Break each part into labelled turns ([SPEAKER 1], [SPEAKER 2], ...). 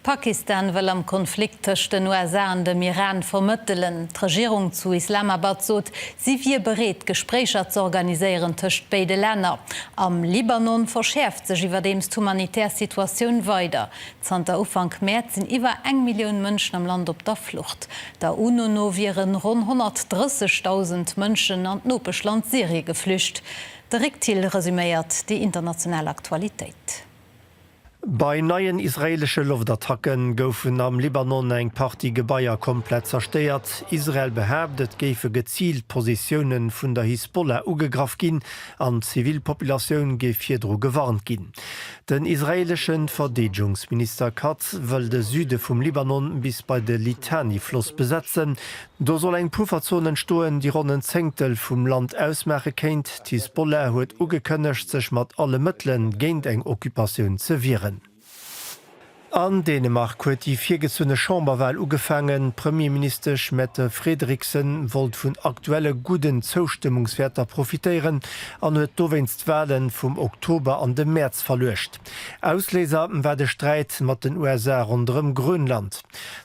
[SPEAKER 1] Pakistan wëll am Konflikt tëscht den USA an dem Iran vermëttelen. D'Regierung zu Islamabad sot, si wier bereet, Gespréicher z'organiséieren tëscht béide Länner. Am Libanon verschäerft sech iwwerdeems d'humanitär Situatioun weider. Zanter Ufank Mäerz sinn iwwer eng Millioun Mënschen am Land op der Flucht. Der UNO no wiere ronn 130.000 Mënschen an d'Nopeschland Syrie geflücht. De Rick Thill resuméiert déi international Aktualitéit.
[SPEAKER 2] Bei neien israeelesche Loftattacke goufen am Libanon eng Partie Gebaier komplett zerstéiert. Israel behaapt, et géife geziilt Positioune vun der Hisbollah ugegraff ginn an d'Zivilpopulatioun géif virdru gewarnt ginn. Den israeelesche Verdeedegungsminister Katz wëll de Süde vum Libanon bis bei de Litani-Floss besetzen, Do soll eng Pufferzon entstoen, déi ronn en Zéngtel vum Land ausmaache kéint. D'Hisbollah huet ugekënnegt, sech mat alle Mëttele géint eng Occupatioun ze wieren. An Dänemark huet déi virgezunne Chamberwal ugefaangen. D'Premierministesch Mette Frederiksen wollt vun aktuelle gudden Zoustëmmungswäerter profitéieren an huet dowéinst d'Wale vum Oktober an de Mäerz verluecht. Ausléiser war de Sträit mat den USA ronderëm Grönland.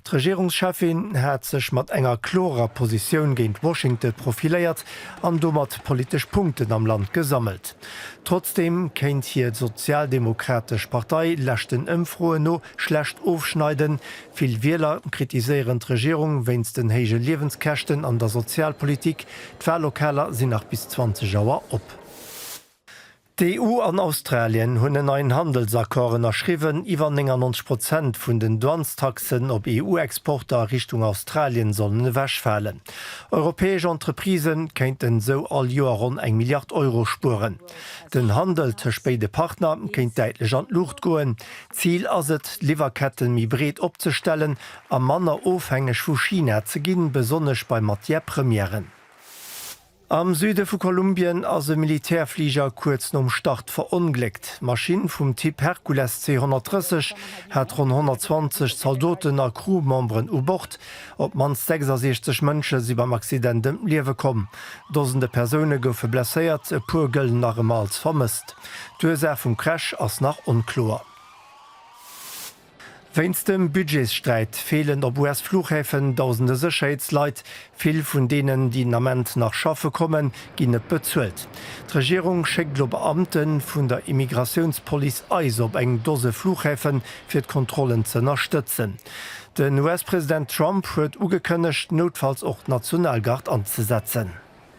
[SPEAKER 2] D'Regierungscheffin hat sech mat enger klorer Positioun géint Washington profiléiert an domat politesch Punkten am Land gesammelt. Trotzdeem kéint hir d'Sozialdemokratesch Partei leschten Ëmfroen no schlecht ofschneiden. Vill Wieler kritiséieren d'Regierung wéinst den héije Liewenskäschten an der Sozialpolitik. D'Wallokaler sinn nach bis 20 Auer op. D'EU an Australien hunn en neien Handelsaccord ënnerschriwwen, iwwer 99 Prozent vun den Douanestaxen op EU-Exporter a Richtung Australien sollen ewechfalen. Europäesch Entreprisë kéinten esou all Joer ronn eng Milliard Euro spueren. Den Handel tëscht béide Partner kéint däitlech an d'Luucht goen. Zil ass et, d'Liwwerketten méi breet opzestellen a manner ofhängeg vu China ze ginn, besonnesch bei Matière-Premièren. Am Süde vu Kolumbien ass e Militärfliger kuerz nom Start verongléckt. D'Maschinn vum Typ Hercules C-130 hat ronn 120 Zaldoten a Crew-Memberen u Bord. Op d'mannst 66 Mënsche si beim Accident ëm d'Liewe komm. Dosende Persoune goufe blesséiert, e puer gëllen nach ëmmer als vermësst. D'Ursaach vum Crash ass nach onkloer. Wéinst dem Budgetssträit feelen op US-Flughäfen dausende Sécherheetsleit. Vill vun deenen, déi den Ament nach schaffe kommen, ginn net bezuelt. D'Regierung schéckt elo Beamte vun der Immigratiounspolice ice op eng Dose Flughäfe fir d'Kontrollen ze ënnerstëtzen. Den US-President Trump huet ugekënnegt, noutfalls och d'Nationalgard anzesetzen.